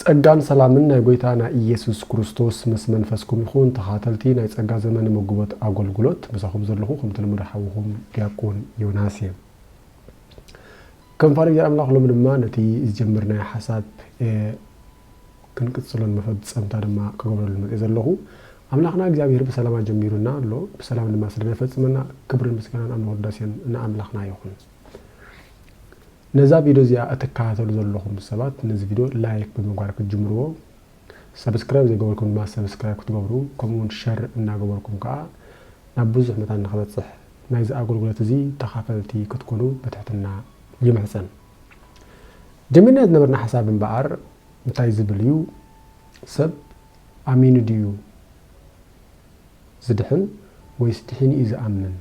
ጸጋን ሰላምን ናይ ጎይታ ናይ ኢየሱስ ኩሩስቶስ ምስ መንፈስኩም ይኹን ተኻተልቲ ናይ ጸጋ ዘመን መጉቦት ኣጎልጉሎት ምሳኹም ዘለኹ ከምቲ ልሙድ ሓውኹም ዲያቆን ዮናስ እየ ከም ፋሪ እግዚኣር ኣምላኽ ሎሚ ድማ ነቲ ዝጀመርናዮ ሓሳብ ክንቅጽሎን መፈጸምታ ድማ ክገብረሉ መጽእ ዘለኹ ኣምላኽና እግዚኣብሔር ብሰላም ኣጀሚሩና ኣሎ ብሰላም ድማ ስለ ዘፈጽመና ክብርን ምስጋናን ኣምልኾ ዳሴን ንኣምላኽና ይኹን ነዛ ቪዶ እዚኣ እትከታተሉ ዘለኹም ሰባት ነዚ ቪዶ ላይክ ብምግባር ክትጅምርዎ ሰብስክራይብ ዘይገበርኩም ድማ ሰብስክራይብ ክትገብሩ ከምኡ ውን ሸር እናገበርኩም ከኣ ናብ ብዙሕ መታን ንክበጽሕ ናይዚ ኣገልግሎት እዚ ተኻፈልቲ ክትኮኑ ብትሕትና ይምሕጸን። ጀሚርናዮ ዝነበርና ሓሳብ እምበኣር እንታይ ዝብል እዩ ሰብ ኣሚኑ ድዩ ዝድሕን ወይስ ድሒኑ እዩ ዝኣምን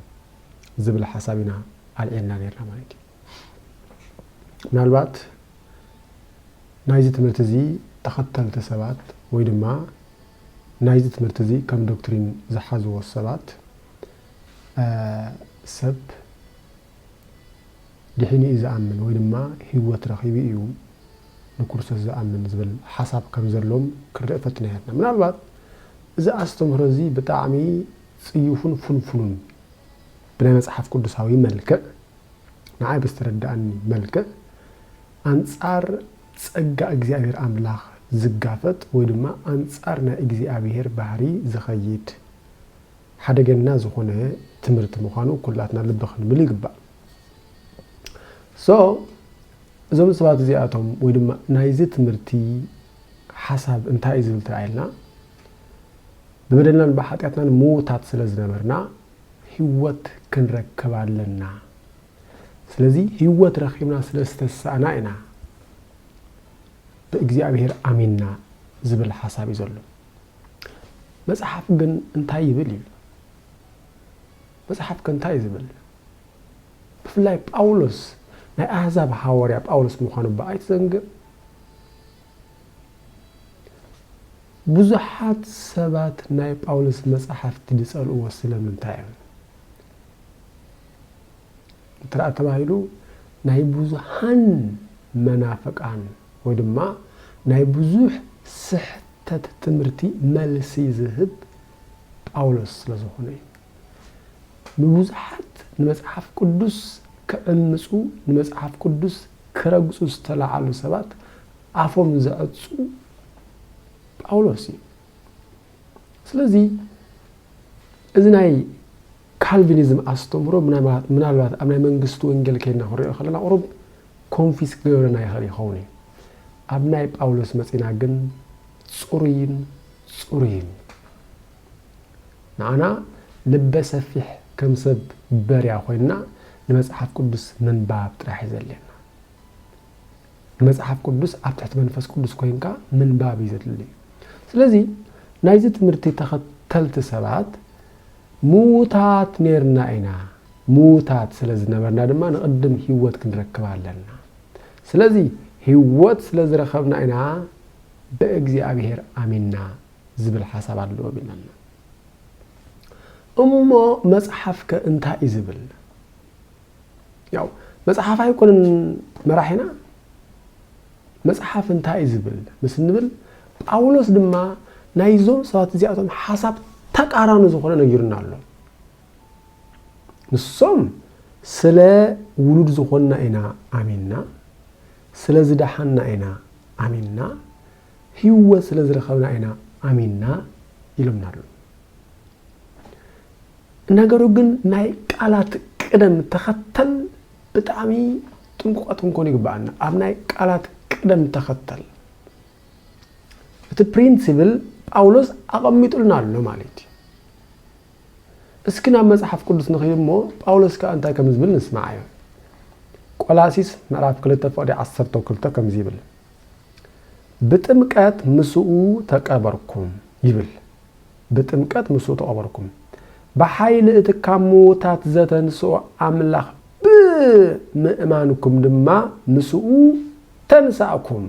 ዝብል ሓሳብ ኢና ኣልዒልና ኔርና ማለት እዩ። ምናልባት ናይዚ ትምህርቲ እዚ ተኸተልቲ ሰባት ወይ ድማ ናይዚ ትምህርቲ እዚ ከም ዶክትሪን ዝሓዝዎ ሰባት ሰብ ድሒኑ እዩ ዝኣምን ወይ ድማ ህይወት ረኺቡ እዩ ንክርስቶስ ዝኣምን ዝብል ሓሳብ ከም ዘሎም ክንርኢ ፈትና ያትና ምናልባት እዚ ኣስተምህሮ እዚ ብጣዕሚ ጽዩፉን ፍንፍኑን ብናይ መጽሓፍ ቅዱሳዊ መልክዕ ንዓይ ብዝተረደኣኒ መልክዕ ኣንጻር ጸጋ እግዚኣብሔር ኣምላኽ ዝጋፈጥ ወይ ድማ ኣንጻር ናይ እግዚኣብሔር ባህሪ ዝኸይድ ሓደገና ዝኾነ ትምህርቲ ምዃኑ ኩላትና ልቢ ክንብል ይግባእ። ሶ እዞም ሰባት እዚኣቶም ወይ ድማ ናይዚ ትምህርቲ ሓሳብ እንታይ እዩ ዝብል ተራእየልና ብበደልናን ብሓጢኣትናን ምዉታት ስለ ዝነበርና ህይወት ክንረክብ ኣለና። ስለዚ ህይወት ረኺብና ስለ ዝተሳእና ኢና ብእግዚኣብሄር ኣሚንና ዝብል ሓሳብ እዩ ዘሎ። መጽሓፍ ግን እንታይ ይብል እዩ? መጽሓፍ ከ እንታይ እዩ ዝብል? ብፍላይ ጳውሎስ ናይ ኣህዛብ ሃዋርያ ጳውሎስ ምዃኑ እባ ኣይትዘንግዕ። ብዙሓት ሰባት ናይ ጳውሎስ መጻሕፍቲ ዝጸልእዎ ስለምንታይ እዮም? እንትርኣ ተባሂሉ ናይ ብዙሓን መናፍቃን ወይ ድማ ናይ ብዙሕ ስሕተት ትምህርቲ መልሲ ዝህብ ጳውሎስ ስለዝኾነ እዩ። ንብዙሓት ንመጽሓፍ ቅዱስ ክዕምጹ ንመጽሓፍ ቅዱስ ክረግጹ ዝተላዓሉ ሰባት ኣፎም ዘዕጹ ጳውሎስ እዩ። ስለዚ እዚ ናይ ካልቪኒዝም ኣስተምህሮ ምናልባት ኣብ ናይ መንግስቲ ወንጌል ከይድና ክንሪኦ ከለና ቁሩብ ኮንፊስ ክገብረና ይኽእል ይኸውን እዩ። ኣብ ናይ ጳውሎስ መጺና ግን ጽሩይን ጽሩይን እዩ። ንዓና ልበ ሰፊሕ ከም ሰብ በርያ ኮይንና ንመጽሓፍ ቅዱስ ምንባብ ጥራሕ እዩ ዘድልየና። ንመጽሓፍ ቅዱስ ኣብ ትሕቲ መንፈስ ቅዱስ ኮይንካ ምንባብ እዩ ዘድሊ። ስለዚ ናይዚ ትምህርቲ ተኸተልቲ ሰባት ምዉታት ኔርና ኢና። ምዉታት ስለ ዝነበርና ድማ ንቕድም ህይወት ክንረክብ ኣለና። ስለዚ ህይወት ስለ ዝረኸብና ኢና ብእግዚኣብሔር ኣሚንና ዝብል ሓሳብ ኣለዎም ኢለና። እሞ መጽሓፍከ እንታይ እዩ ዝብል? ያው መጽሓፍ ኣይኮንን መራሒና መጽሓፍ እንታይ እዩ ዝብል ምስ እንብል ጳውሎስ ድማ ናይዞም ሰባት እዚኣቶም ሓሳብ ተቃራኒ ዝኾነ ነጊሩና ኣሎ ንሶም ስለ ውሉድ ዝኾንና ኢና ኣሚንና ስለ ዝደሓንና ኢና ኣሚንና ህይወት ስለ ዝረኸብና ኢና ኣሚንና ኢሎምና ኣለዉ። ነገሩ ግን ናይ ቃላት ቅደም ተኸተል ብጣዕሚ ጥንቁቓት ክንኮኑ ይግባኣና። ኣብ ናይ ቃላት ቅደም ተኸተል እቲ ፕሪንሲብል ጳውሎስ ኣቐሚጡልና ኣሎ ማለት እዩ። እስኪ ናብ መጽሓፍ ቅዱስ ንኽይድ እሞ ጳውሎስ ከዓ እንታይ ከም ዝብል ንስማዓዮ። ቆላሲስ ምዕራፍ 2 ፍቕዲ 12 ከምዚ ይብል ብጥምቀት ምስኡ ተቀበርኩም ይብል ብጥምቀት ምስኡ ተቀበርኩም ብሓይሊ እቲ ካብ ምዉታት ዘተንስኦ ኣምላኽ ብ ምእማንኩም ድማ ምስኡ ተንሳእኩም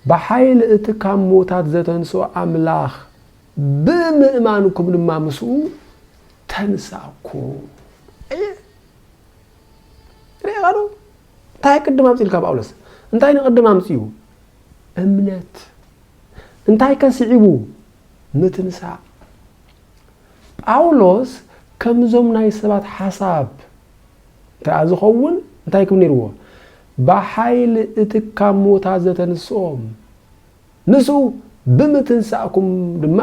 ብሓይሊ እቲ ካብ ምዉታት ዘተንስኦ ኣምላኽ ብ ምእማንኩም ድማ ምስኡ ተንሳእኩም ኣየ ርኤኻዶ እንታይ ቅድም ኣምጺኡልካ ጳውሎስ? እንታይ ንቕድም ኣምጺኡ? እምነት። እንታይከ ስዒቡ? ምትንሳእ። ጳውሎስ ከምዞም ናይ ሰባት ሓሳብ እንተኣ ዝኸውን እንታይ ክብል ነይርዎ? ብሓይሊ እቲ ካብ ሞታ ዘተንስኦም ምስኡ ብምትንሳእኩም ድማ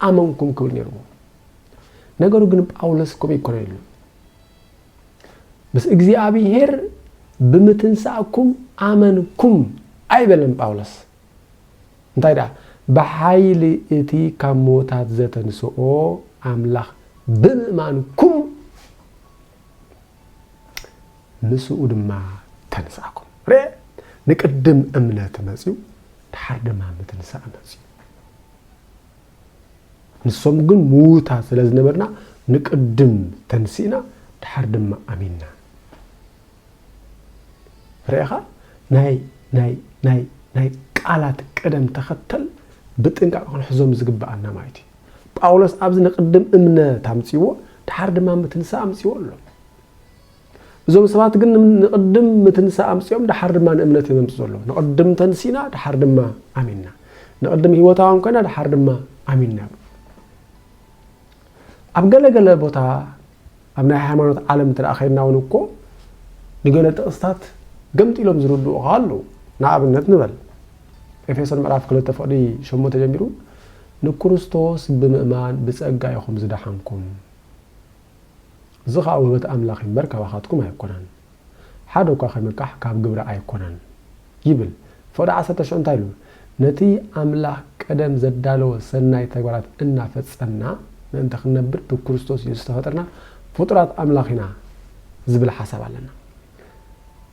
ኣመንኩም ክብል ነይርዎ። ነገሩ ግን ጳውሎስ ከምኡ ኣይኮነን ኢሉ። ምስ እግዚኣብሄር ብምትንሳእኩም ኣመንኩም ኣይበለን ጳውሎስ። እንታይ ደኣ ብሓይሊ እቲ ካብ ምዉታት ዘተንስኦ ኣምላኽ ብምእማንኩም ምስኡ ድማ ተንሳእኩም። ርኤ ንቅድም እምነት መጽዩ ድሓር ድማ ምትንሳእ መጽዩ። ንሶም ግን ምዉታት ስለ ዝነበርና ንቅድም ተንሲእና ድሓር ድማ ኣሚንና ርኢኻ ናይ ናይ ናይ ናይ ቃላት ቅደም ተኸተል ብጥንቃቕ ክንሕዞም ዝግብኣና ማለት እዩ ጳውሎስ ኣብዚ ንቅድም እምነት ኣምጽዎ ድሓር ድማ ምትንሳ ኣምጽዎ ኣሎ እዞም ሰባት ግን ንቕድም ምትንሳእ ኣምጺኦም ደሓር ድማ ንእምነት እዮም ዘምጽ ዘለዉ። ንቕድም ተንሲእና ደሓር ድማ ኣሚንና፣ ንቕድም ህይወታውያን ኮይና ደሓር ድማ ኣሚንና ይብሉ። ኣብ ገለ ገለ ቦታ ኣብ ናይ ሃይማኖት ዓለም እንተ ከይድና እውን እኮ ንገለ ጥቕስታት ገምጢሎም ዝርድኡ ኸ ኣለዉ። ንኣብነት ንበል ኤፌሶን ምዕራፍ ክልተ ፍቕዲ ሸሞንተ ጀሚሩ ንክርስቶስ ብምእማን ብጸጋ ኢኹም ዝደሓንኩም እዚ ኸኣ ውህበት ኣምላኽ እምበር ካባኻትኩም ኣይኮነን፣ ሓደ እኳ ኺምቃሕ ካብ ግብሪ ኣይኮነን ይብል። ፍቕዲ ዓሰርተ ሽዑ እንታይ ኢሉ? ነቲ ኣምላኽ ቀደም ዘዳለዎ ሰናይ ተግባራት እናፈጸምና ምእንቲ ኽንነብር ብክርስቶስ የሱስ እተፈጥርና ፍጡራት ኣምላኽ ኢና ዝብል ሓሳብ ኣለና።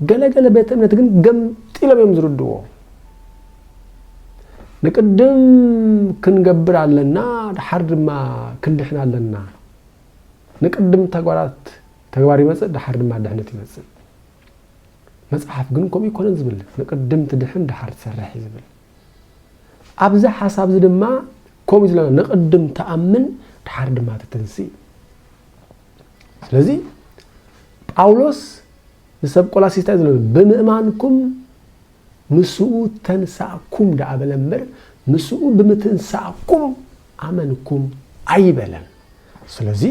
ገለ ገለ ቤተ እምነት ግን ገምጢሎም እዮም ዝርድዎ። ንቅድም ክንገብር ኣለና፣ ድሓር ድማ ክንድሕን ኣለና። ንቅድም ተግባራት ተግባር ይመጽእ ደሓር ድማ ድሕነት ይመጽእ መጽሓፍ ግን ከምኡ ይኮነን ዝብል ንቅድም ትድሕን ደሓር ትሰርሕ እዩ ዝብል ኣብዚ ሓሳብ እዚ ድማ ከምኡ ዝለና ንቅድም ተኣምን ደሓር ድማ ትትንስእ ስለዚ ጳውሎስ ንሰብ ቆላሲስታ እዩ ዝለ ብምእማንኩም ምስኡ ተንሳእኩም ደኣ በለ እምበር፣ ምስኡ ብምትንሳእኩም ኣመንኩም ኣይበለን። ስለዚ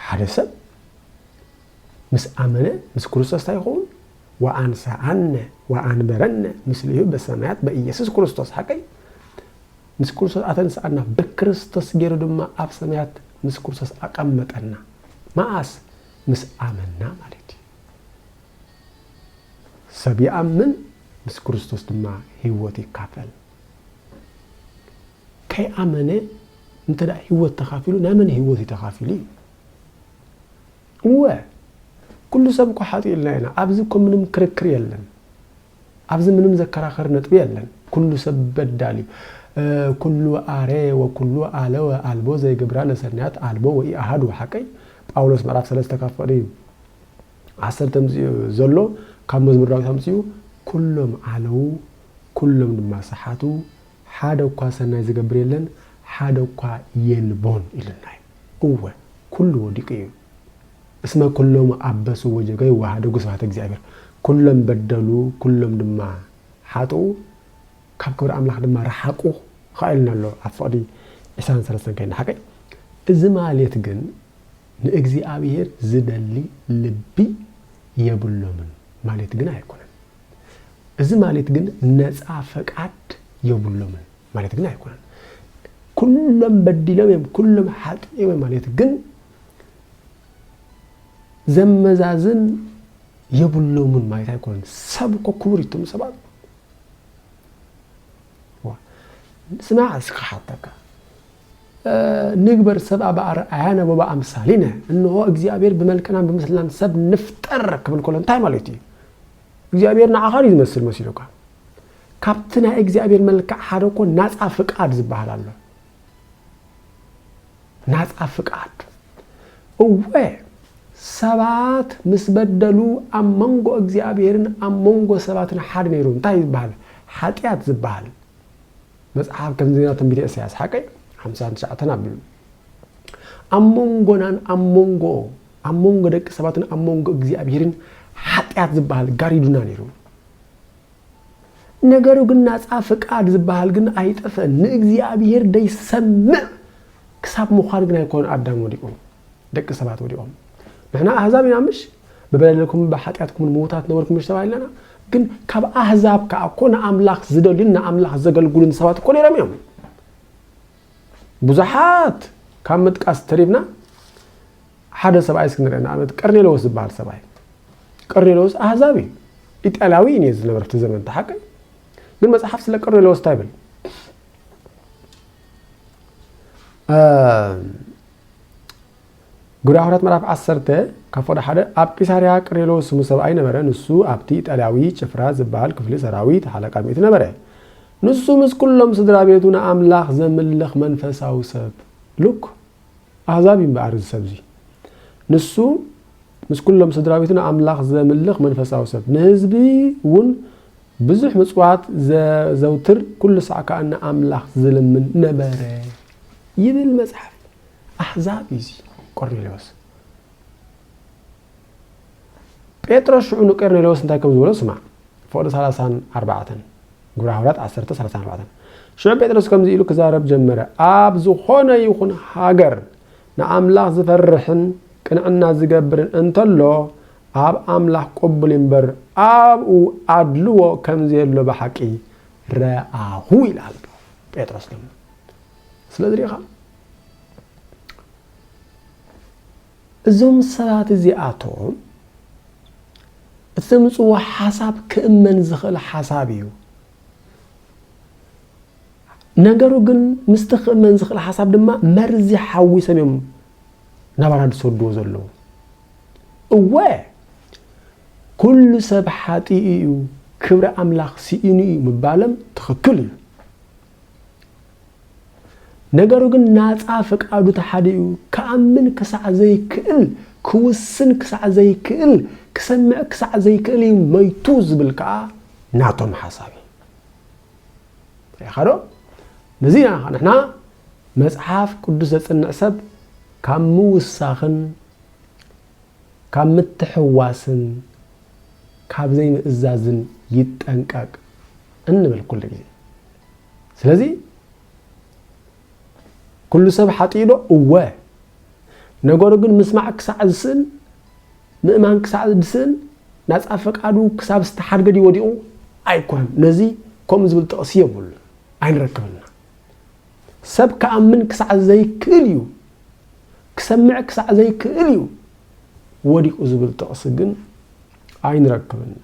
ሓደ ሰብ ምስ ኣመነ ምስ ክርስቶስ እንታይ ይኸውን? ወኣንሰኣነ ወኣንበረነ ምስሌሁ በሰማያት በኢየሱስ ክርስቶስ ሓቀይ ምስ ክርስቶስ ኣተንስኣና ብክርስቶስ ገይሩ ድማ ኣብ ሰማያት ምስ ክርስቶስ ኣቐመጠና። መኣስ ምስ ኣመንና ማለት እዩ። ሰብ ይኣምን ምስ ክርስቶስ ድማ ህይወት ይካፈል። ከይኣመነ እንተ ህይወት ተኻፊሉ ናይ መን ህይወት እዩ ተኻፊሉ እዩ? እወ ኩሉ ሰብ እኮ ሓጢኡ ኢልና ኢና። ኣብዚ እኮ ምንም ክርክር የለን። ኣብዚ ምንም ዘከራኸር ነጥቢ የለን። ኩሉ ሰብ በዳል እዩ። ኩሉ ኣረ ወኩሉ ኣለወ ኣልቦ ዘይግብራ ለሰናያት ኣልቦ ወኢኣሃዱ ሓቀይ ጳውሎስ ምዕራፍ ሰለስተ ካብ ፍቕሪ ዓሰርተ ምስ ዘሎ ካብ መዝሙር ዳዊት ኣምጺኡ ኵሎም ዓነዉ፣ ኵሎም ድማ ሰሓቱ፣ ሓደ እኳ ሰናይ ዚገብር የለን፣ ሓደ እኳ የልቦን ኢሉና እዩ። እወ፣ ኵሉ ወዲቑ እዩ። እስመ ኵሎሙ ኣበሱ ወጀገዩ ወኀደጉ ስብሐተ እግዚኣብሔር፣ ኵሎም በደሉ፣ ኵሎም ድማ ሓጥኡ፣ ካብ ክብሪ ኣምላኽ ድማ ረሓቁ ኸኣ ኢሉና ኣሎ ኣብ ፍቕዲ ዒስራን ሰለስተን ከይንሓቅቅ። እዚ ማሌት ግን ንእግዚኣብሄር ዚደሊ ልቢ የብሎምን ማሌት ግን ኣይኮነን። እዚ ማሌት ግን ነጻ ፈቃድ የብሎምን ማሌት ግን ኣይኮነን። ኩሎም በዲሎም እዮም ኩሎም ሓጢኦም እዮም ማሌት ግን ዘመዛዝን የብሎምን ማሌት ኣይኮነን። ሰብ እኮ ክቡር እዩ እቶም ሰባት ስማዕ እስኪ ሓተካ ንግበር ሰብኣ ብኣርኣያነ ወበኣምሳሊነ፣ እንሆ እግዚኣብሄር ብመልክናን ብምስልናን ሰብ ንፍጠር ክብል ከሎ እንታይ ማለቱ እዩ? እግዚኣብሄር ንዓኻ ድዩ ዝመስል መሲሉካ? ካብቲ ናይ እግዚኣብሄር መልክዕ ሓደ እኮ ናፃ ፍቃድ ዝበሃል ኣሎ። ናፃ ፍቃድ እወ ሰባት ምስ በደሉ ኣብ መንጎ እግዚኣብሄርን ኣብ መንጎ ሰባትን ሓደ ነይሩ እንታይ ዝበሃል ሓጢኣት ዝበሃል መጽሓፍ ከምዜና ትንቢተ እሰያስ ሓቀይ ሓምሳን ትሽዓተን ኣቢሉ ኣብ መንጎናን ኣብ መንጎ ኣብ መንጎ ደቂ ሰባትን ኣብ መንጎ እግዚኣብሄርን ሓጢኣት ዝበሃል ጋሪዱና ነይሩ ነገሩ ግን ናፃ ፍቃድ ዝበሃል ግን ኣይጠፍእን ንእግዚኣብሄር ደይሰምዕ ክሳብ ምዃን ግን ኣይኮኑ ኣዳም ወዲቑ ደቂ ሰባት ወዲቖም ንሕና ኣህዛብ ኢና ምሽ ብበደልኩምን ብሓጢኣትኩምን ምዉታት ነበርኩም ዲሽ ተባሂልናና? ግን ካብ ኣህዛብ ከኣ እኮ ንኣምላኽ ዝደልዩን ንኣምላኽ ዘገልግሉን ሰባት እኮ ነይሮም እዮም። ብዙሓት ካብ ምጥቃስ ተሪብና ሓደ ሰብኣይ እስኪ ንርአ ንኣብነት ቀርኔሎዎስ ዝበሃል ሰብኣይ ቀርኔሎዎስ ኣህዛብ እዩ ኢጣልያዊ እዩ ነዚ ዝነበረ እቲ ዘመን ተሓቂ ግን መፅሓፍ ስለ ቀርኔሎዎስ እንታይ ይብል ግብረ ሃዋርያት ምዕራፍ ዓሰርተ ካብ ፍቕዲ ሓደ ኣብ ቂሳርያ ቅርኔሎስ ስሙ ሰብኣይ ነበረ፣ ንሱ ኣብቲ ኢጣልያዊ ጭፍራ ዝበሃል ክፍሊ ሰራዊት ሓለቃ ሚእቲ ነበረ። ንሱ ምስ ኩሎም ስድራ ቤቱ ንኣምላኽ ዘምልኽ መንፈሳዊ ሰብ ሉክ ኣህዛብ እዩ እምበኣር እዚ ሰብ እዚ ንሱ ምስ ኩሎም ስድራ ቤቱ ንኣምላኽ ዘምልኽ መንፈሳዊ ሰብ ንህዝቢ እውን ብዙሕ ምጽዋት ዘዘውትር ኩሉ ሳዕ ከኣ ንኣምላኽ ዝልምን ነበረ ይብል መጽሓፍ። ኣሕዛብ እዩ እዚ ቆርኔሌዎስ። ጴጥሮስ ሽዑ ንቄርኔሌዎስ እንታይ ከም ዝበሎ ስማዕ። ፍቕዲ ሰላሳን ኣርባዕተን ግብረ ሃዋርያት ዓሰርተ ሰላሳን ኣርባዕተን ሽዑ ጴጥሮስ ከምዚ ኢሉ ክዛረብ ጀመረ ኣብ ዝኾነ ይኹን ሃገር ንኣምላኽ ዝፈርሕን ቅንዕና ዝገብርን እንተሎ ኣብ ኣምላኽ ቅቡል እምበር ኣብኡ ኣድልዎ ከም ዘየሎ ብሓቂ ረኣኹ ይላል ጴጥሮስ ድማ ስለዚ ሪኢኻ እዞም ሰባት እዚኣቶም እቲ ዘምፅዎ ሓሳብ ክእመን ዝኽእል ሓሳብ እዩ። ነገሩ ግን ምስቲ ክእመን ዝኽእል ሓሳብ ድማ መርዚ ሓዊሶም እዮም ናባና ዝሰድዎ ዘለዉ። እወ ኩሉ ሰብ ሓጢኡ እዩ ክብሪ ኣምላኽ ስኢኑ እዩ ምባሎም ትኽክል እዩ። ነገሩ ግን ናጻ ፍቃዱ ተሓዲኡ ክኣምን ክሳዕ ዘይክእል፣ ክውስን ክሳዕ ዘይክእል፣ ክሰምዕ ክሳዕ ዘይክእል እዩ መይቱ ዝብል ከኣ ናቶም ሓሳብ እዩ። ርኢኻዶ? ነዚ ኢና ከኣ ንሕና መጽሓፍ ቅዱስ ዘጽንዕ ሰብ ካብ ምውሳኽን ካብ ምትሕዋስን ካብ ዘይምእዛዝን ይጠንቀቅ እንብል ኩሉ ግዜ። ስለዚ ኩሉ ሰብ ሓጥኡ ዶ? እወ። ነገሩ ግን ምስማዕ ክሳዕ ዝስእን ምእማን ክሳዕ ዝስእን ናጻ ፈቃዱ ክሳብ ዝተሓድገ ድዩ ወዲቑ? ኣይኮነን። ነዚ ከምኡ ዝብል ጥቕሲ የብሉን፣ ኣይንረክብና። ሰብ ክኣምን ክሳዕ ዘይክእል እዩ፣ ክሰምዕ ክሳዕ ዘይክእል እዩ ወዲቑ ዝብል ጥቕሲ ግን ኣይንረክብና።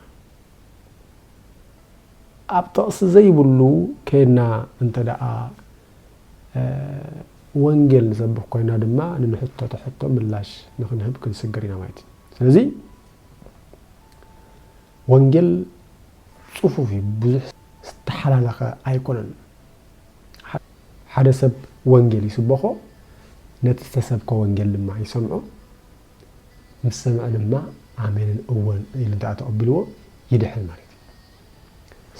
ኣብ ጥቕሲ ዘይብሉ ኴንና እንተ ደኣ ወንጌል ንሰብኽ ኮይና ድማ ንንሕተቶ ሕቶ ምላሽ ንኽንህብ ክንስግር ኢና ማለት እዩ። ስለዚ ወንጌል ጽፉፍ እዩ፣ ብዙሕ ዝተሓላለኸ ኣይኮነን። ሓደ ሰብ ወንጌል ይስበኾ፣ ነቲ ዝተሰብከ ወንጌል ድማ ይሰምዖ፣ ምስ ሰምዐ ድማ ኣሜንን እወን ኢሉ እንተ ተቐቢልዎ ይድሕን ማለት እዩ።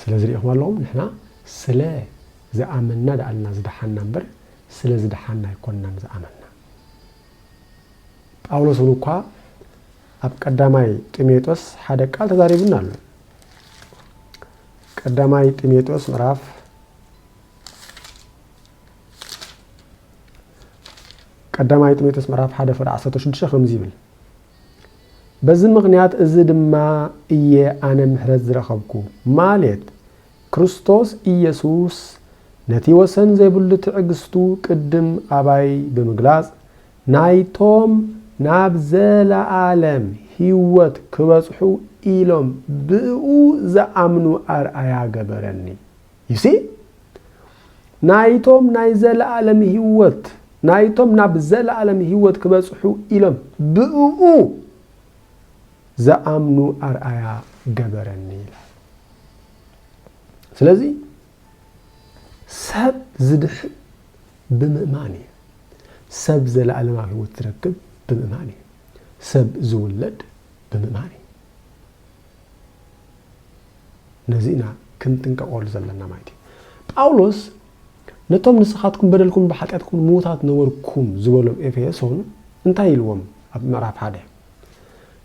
ስለዚ ርኢኹም ኣለኹም ንሕና ስለ ዝኣመንና ደኣ እና ዝደሓንና እምበር ስለ ዝደሓንና ኣይኮንናን ዝኣመንና። ጳውሎስ እውን እኳ ኣብ ቀዳማይ ጢሞቴዎስ ሓደ ቃል ተዛሪቡና ኣሎ። ቀዳማይ ጢሞቴዎስ ምዕራፍ ቀዳማይ ጢሞቴዎስ ምዕራፍ ሓደ ፍቅዲ ዓሰርተ ሽዱሽተ ከምዚ ይብል በዚ ምኽንያት እዚ ድማ እየ ኣነ ምሕረት ዝረኸብኩ፣ ማሌት ክርስቶስ ኢየሱስ ነቲ ወሰን ዘይብሉ ትዕግሥቱ ቅድም ኣባይ ብምግላጽ ናይቶም ናብ ዘለዓለም ሕይወት ክበጽሑ ኢሎም ብእኡ ዝኣምኑ ኣርኣያ ገበረኒ። You see? ናይቶም ናይ ዘለኣለም ህይወት፣ ናይቶም ናብ ዘለኣለም ህይወት ክበጽሑ ኢሎም ብእኡ ዝኣምኑ ኣርኣያ ገበረኒ ኢላ። ስለዚ ሰብ ዝድሕን ብምእማን እዩ። ሰብ ዘለኣለማዊ ህይወት ዝረክብ ብምእማን እዩ። ሰብ ዝውለድ ብምእማን እዩ። ነዚ ኢና ክንጥንቀቐሉ ዘለና ማለት እዩ። ጳውሎስ ነቶም ንስኻትኩም በደልኩምን ብሓጢኣትኩምን ምዉታት ነበርኩም ዝበሎም ኤፌሶን እንታይ ኢልዎም ኣብ ምዕራፍ ሓደ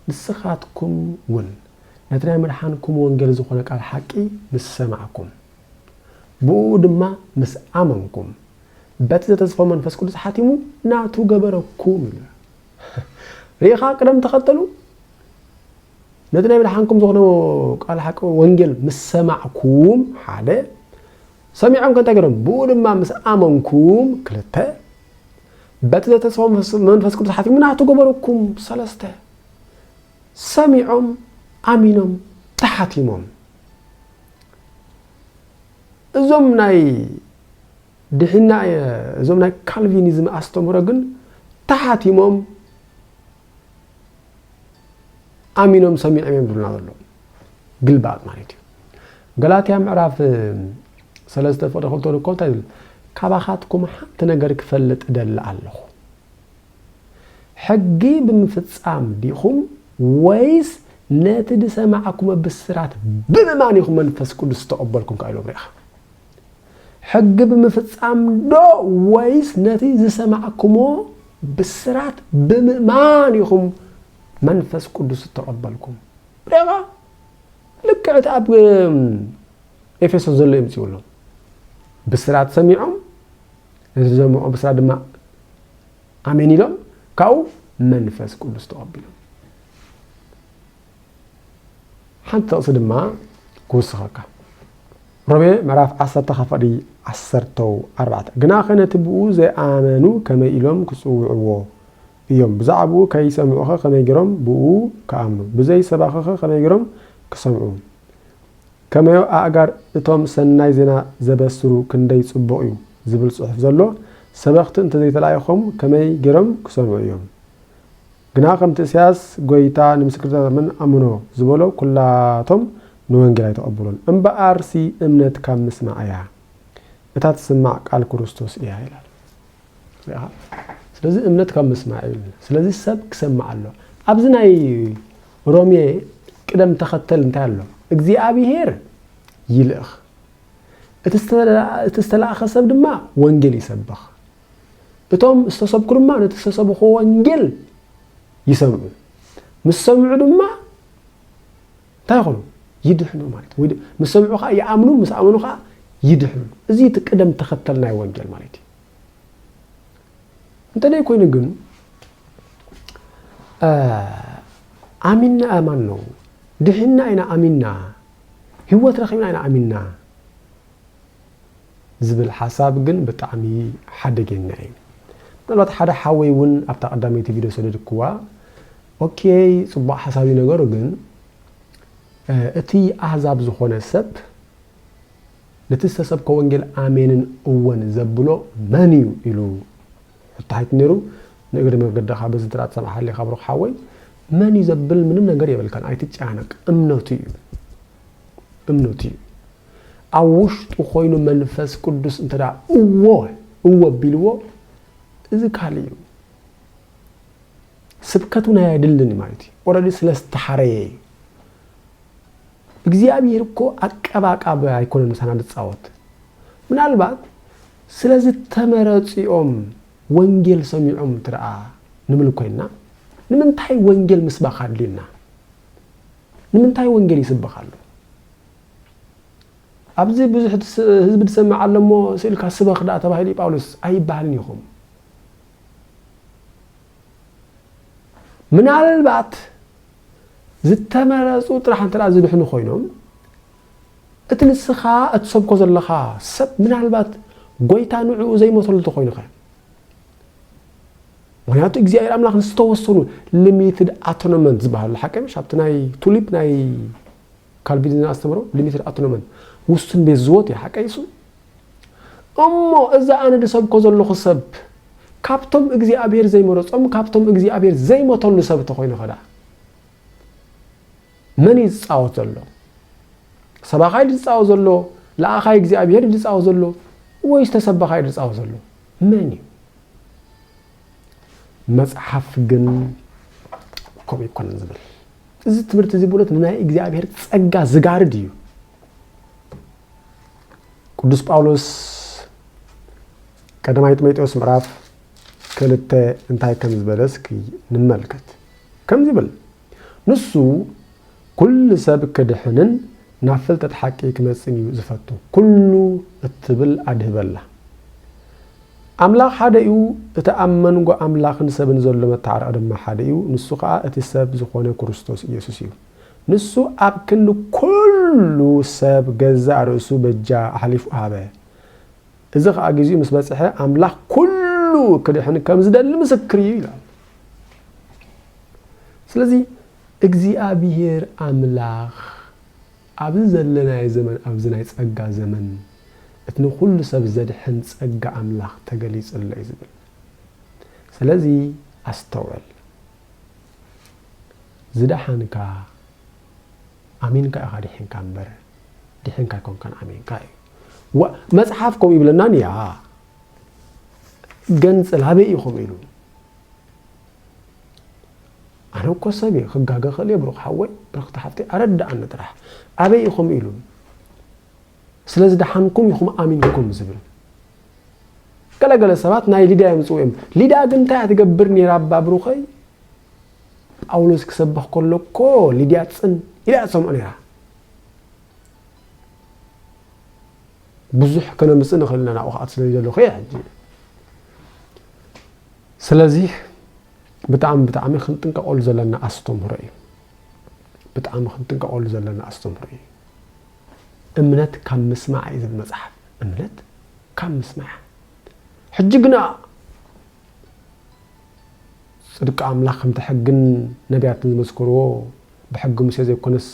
ንስኻትኩም ውን ነቲ ናይ መድሓንኩም ወንጌል ዝኾነ ቃል ሓቂ ምስ ሰማዕኩም ብእኡ ድማ ምስ ኣመንኩም በቲ ዘተስፋ መንፈስ ቅዱስ ሓቲሙ ናቱ ገበረኩም ኢሉ ርኢኻ ቅደም ተኸተሉ ነቲ ናይ ምድሓንኩም ዝኾነ ቃል ሓቂ ወንጌል ምስ ሰማዕኩም ሓደ ሰሚዖም ከ እንታይ ገይሮም ብኡ ድማ ምስ ኣመንኩም ክልተ በቲ ዘተሰቦ መንፈስ ቅዱስ ሓቲሙ ናቱ ገበረኩም ሰለስተ ሰሚዖም ኣሚኖም ተሓቲሞም እዞም ናይ ድሒና እዞም ናይ ካልቪኒዝም ኣስተምህሮ ግን ተሓቲሞም ኣሚኖም ሰሚዖም እዮም ዝብሉና ዘለዉ ግልባጥ ማለት እዩ ገላትያ ምዕራፍ ሰለስተ ፍቅሪ ክልተ እኮ እንታይ ዝብል ካባኻትኩም ሓንቲ ነገር ክፈልጥ እደሊ ኣለኹ ሕጊ ብምፍጻም ዲኹም ወይስ ነቲ ዝሰማዕኩመ ብስራት ብምእማን ኢኹም መንፈስ ቅዱስ ዝተቐበልኩም ከ ኢሎም ሪኢኻ ሕጊ ብምፍጻም ዶ ወይስ ነቲ ዝሰማዕክሞ ብስራት ብምእማን ኢኹም መንፈስ ቅዱስ እተቐበልኩም? ርኢኻ ልክዕ እቲ ኣብ ኤፌሶን ዘሎ የምጽኡሎም ብስራት ሰሚዖም ነቲ ዝሰምዑ ብስራት ድማ ኣሜን ኢሎም ካብኡ መንፈስ ቅዱስ ተቐቢሎም ሓንቲ ጥቕሲ ድማ ክውስኸካ ሮሜ ምዕራፍ ዓሰርተ ካብ ፍቕዲ ዓሰርተው ኣርባዕተ ግናኸ ነቲ ብኡ ዘይኣመኑ ከመይ ኢሎም ክጽውዕዎ እዮም ብዛዕባኡ ከይሰምዑኸ ከመይ ገይሮም ብኡ ክኣምኑ ብዘይ ሰባኺኸ ከመይ ገይሮም ክሰምዑ ከመዮ ኣእጋር እቶም ሰናይ ዜና ዘበስሩ ክንደይ ጽቡቕ እዩ ዝብል ጽሑፍ ዘሎ ሰበኽቲ እንተዘይተላኢኾም ከመይ ገይሮም ክሰምዑ እዮም ግና ከምቲ እሳያስ ጎይታ ንምስክርታት ኣምን ኣምኖ ዝበሎ ኩላቶም ንወንጌል ኣይተቀበሉን እምበኣርሲ እምነት ካብ ምስማዕ እያ እታ ትስማዕ ቃል ኩርስቶስ እያ ይላል ርኢኻ ስለዚ እምነት ካብ ምስማዕ እዩ ስለዚ ሰብ ክሰማዕ ኣሎ ኣብዚ ናይ ሮሜ ቅደም ተኸተል እንታይ ኣሎ እግዚኣብሄር ይልእኽ እቲ ዝተላእኸ ሰብ ድማ ወንጌል ይሰብኽ እቶም ዝተሰብኩ ድማ ነቲ ዝተሰብኹዎ ወንጌል ይሰምዑ፣ ምስ ሰምዑ ድማ እንታይ ይኾኑ? ይድሕኑ ማለት እዩ። ምስ ሰምዑ ከዓ ይኣምኑ፣ ምስ ኣመኑ ከዓ ይድሕኑ። እዚ እቲ ቅደም ተኸተል ናይ ወንጌል ማለት እዩ። እንተ ዘይኮይኑ ግን ኣሚንና ኣማን ነው ድሒና ኢና ኣሚንና ህይወት ረኺብና ኢና ኣሚንና ዝብል ሓሳብ ግን ብጣዕሚ ሓደገኛ እዩ ምናልባት ሓደ ሓወይ እውን ኣብታ ቀዳመይቲ ቪድዮ ሰደድክዋ ኦኬይ ፅቡቅ ሓሳብ እዩ ነገሩ ግን እቲ ኣህዛብ ዝኾነ ሰብ ነቲ ዝተሰብከ ወንጌል ኣሜንን እወን ዘብሎ መን እዩ ኢሉ ሕቶ ሓይት ነይሩ ንእግሪ መገድኻ በዚ ጥራ ትሰምሓለይ ካብ ሩክ ሓወይ መን እዩ ዘብል ምንም ነገር የብልካን ኣይትጨናነቅ እምነቱ እዩ እምነቱ እዩ ኣብ ውሽጡ ኮይኑ መንፈስ ቅዱስ እንተ እዎ እዎ ኣቢልዎ እዚ ካልእ እዩ ስብከት እውን ኣየድልን ማለት እዩ ኦረዲ ስለ ዝተሓረየ እዩ እግዚኣብሔር እኮ ኣቀባቃብ ኣይኮነን ምሳና ዝፃወት ምናልባት ስለ ዝተመረፂኦም ወንጌል ሰሚዖም እንትደኣ ንብል ኮይና ንምንታይ ወንጌል ምስባኽ ኣድልዩና ንምንታይ ወንጌል ይስበኽ ኣሎ ኣብዚ ብዙሕ ህዝቢ ዝሰምዕ ኣሎ እሞ ስእልካ ስበኽ ደኣ ተባሂሉ እዩ ጳውሎስ ኣይበሃልን ኢኹም። ምናልባት ዝተመረጹ ጥራሕ እንተ ዝድሕኑ ኮይኖም እቲ ንስኻ እትሰብኮ ዘለኻ ሰብ ምናልባት ጎይታ ንዕኡ ዘይመሰሉ እንተኮይኑ ኸ ምክንያቱ እግዚኣብሔር ኣምላኽ ንዝተወሰኑ ሊሚትድ ኣቶኖመንት ዝበሃሉ ሓቂ ምሽ ኣብቲ ናይ ቱሊፕ ናይ ካልቪኒዝም ኣስተምህሮ ሊሚትድ ኣቶኖመን፣ ውሱን ቤት ዝወት፣ እዩ። ሓቀይ እሱ? እሞ እዛ ኣነ ድሰብኮ ዘሎኹ ሰብ ካብቶም እግዚኣብሔር ዘይመረጾም ካብቶም እግዚኣብሔር ዘይመተሉ ሰብ እንተኾይኑ ከደኣ መን እዩ ዝጻወት ዘሎ? ሰባኻይ ድጻወት ዘሎ ለኣኻይ እግዚኣብሔር ድጻወት ዘሎ ወይስ ተሰባኻይ ድጻወት ዘሎ መን እዩ? መጽሓፍ ግን ከምኡ ኣይኮነን ዝብል እዚ ትምህርቲ እዚ ብእውነት ንናይ እግዚኣብሔር ጸጋ ዝጋርድ እዩ ቅዱስ ጳውሎስ ቀዳማይ ጢሞቴዎስ ምዕራፍ ክልተ እንታይ ከም ዝበለ እስኪ ንመልከት ከምዚ ይብል ንሱ ኩሉ ሰብ ክድሕንን ናብ ፍልጠት ሓቂ ክመጽእን እዩ ዝፈቱ። ኩሉ እትብል ኣድህበላ። ኣምላኽ ሓደ እዩ፣ እቲ ኣብ መንጎ ኣምላኽን ሰብን ዘሎ መተዓረቒ ድማ ሓደ እዩ፣ ንሱ ኸኣ እቲ ሰብ ዝዀነ ክርስቶስ ኢየሱስ እዩ። ንሱ ኣብ ክንዲ ኩሉ ሰብ ገዛእ ርእሱ በጃ ኣሕሊፉ ሃበ። እዚ ኸኣ ጊዜኡ ምስ በጽሐ ኣምላኽ ኩሉ ክድሕን ከም ዝደሊ ምስክር እዩ ይላል። ስለዚ እግዚኣብሔር ኣምላኽ ኣብዚ ዘለናዮ ዘመን ኣብዚ ናይ ጸጋ ዘመን እቲ ንኹሉ ሰብ ዘድሕን ጸጋ ኣምላኽ ተገሊጹ ኣሎ እዩ ዝብል። ስለዚ ኣስተውዕል። ዝደሓንካ ኣሚንካ ኢኻ ዲሒንካ እምበር ዲሒንካ ኣይኮንካን ኣሚንካ እዩ ዋእ መጽሓፍ ከምኡ ይብለናን እያ ገንጽል ኣበይ እዩ ከምኡ ኢሉ ኣነ እኮ ሰብ እየ ክጋገ ክእል እየ ብሩክ ሓወይ ብርክቲ ሓፍተይ ኣረዳኣኒ ጥራሕ ኣበይ እዩ ከምኡ ኢሉ ስለዚ ደሓንኩም ኢኹም ኣሚንኩም ዝብል ገለገለ ሰባት ናይ ሊዳ እዮም ዝፅውኦም ሊዳ ግን እንታይ እያ ትገብር ነይራ ኣባ ብሩኸይ ጳውሎስ ክሰብኽ ከሎ እኮ ሊድያ ጽን ኢላ እያ ትሰምዖ ነይራ። ብዙሕ ከነምጽእ ንኽእል ኢና ናብኡ ክኣት ስለ ዘለኹ እየ ሕጂ ስለዚ ብጣዕሚ ብጣዕሚ ክንጥንቀቐሉ ዘለና ኣስተምህሮ እዩ ብጣዕሚ ክንጥንቀቐሉ ዘለና ኣስተምህሮ እዩ እምነት ካብ ምስማዕ እዩ ዝብል መፅሓፍ እምነት ካብ ምስማዕ ሕጂ ግና ጽድቂ ኣምላኽ ከምቲ ሕግን ነብያትን ዝመስከርዎ ብሕጊ ሙሴ ዘይኮነስ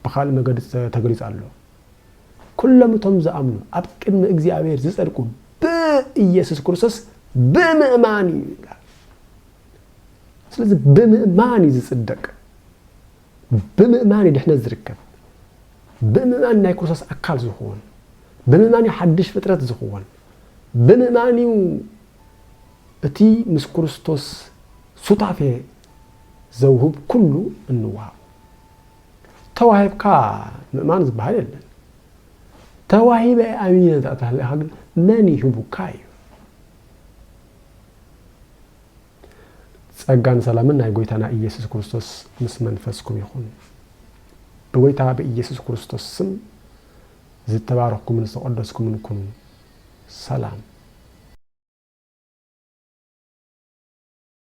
ብኻልእ መገዲ ተገሊጹ ኣሎ። ኩሎም እቶም ዝኣምኑ ኣብ ቅድሚ እግዚኣብሔር ዝጸድቁ ብኢየሱስ ክርስቶስ ብምእማን እዩ ይላል። ስለዚ ብምእማን እዩ ዝጽደቅ። ብምእማን እዩ ድሕነት ዝርከብ። ብምእማን ናይ ክርስቶስ ኣካል ዝኽወን። ብምእማን እዩ ሓድሽ ፍጥረት ዝኽወን። ብምእማን እዩ እቲ ምስ ክርስቶስ ሱታፌ ዘውህብ ኩሉ እንወሃቦ። ተዋሂብካ ምእማን ዝበሃል የለን። ተዋሂበ ኣሚነ እንተ ተሃሊኻ ግን መን ይህቡካ እዩ። ጸጋን ሰላምን ናይ ጎይታና ኢየሱስ ክርስቶስ ምስ መንፈስኩም ይኹን። ብጎይታ ብኢየሱስ ክርስቶስ ስም ዝተባረኽኩምን ዝተቐደስኩምን ኩኑ። ሰላም።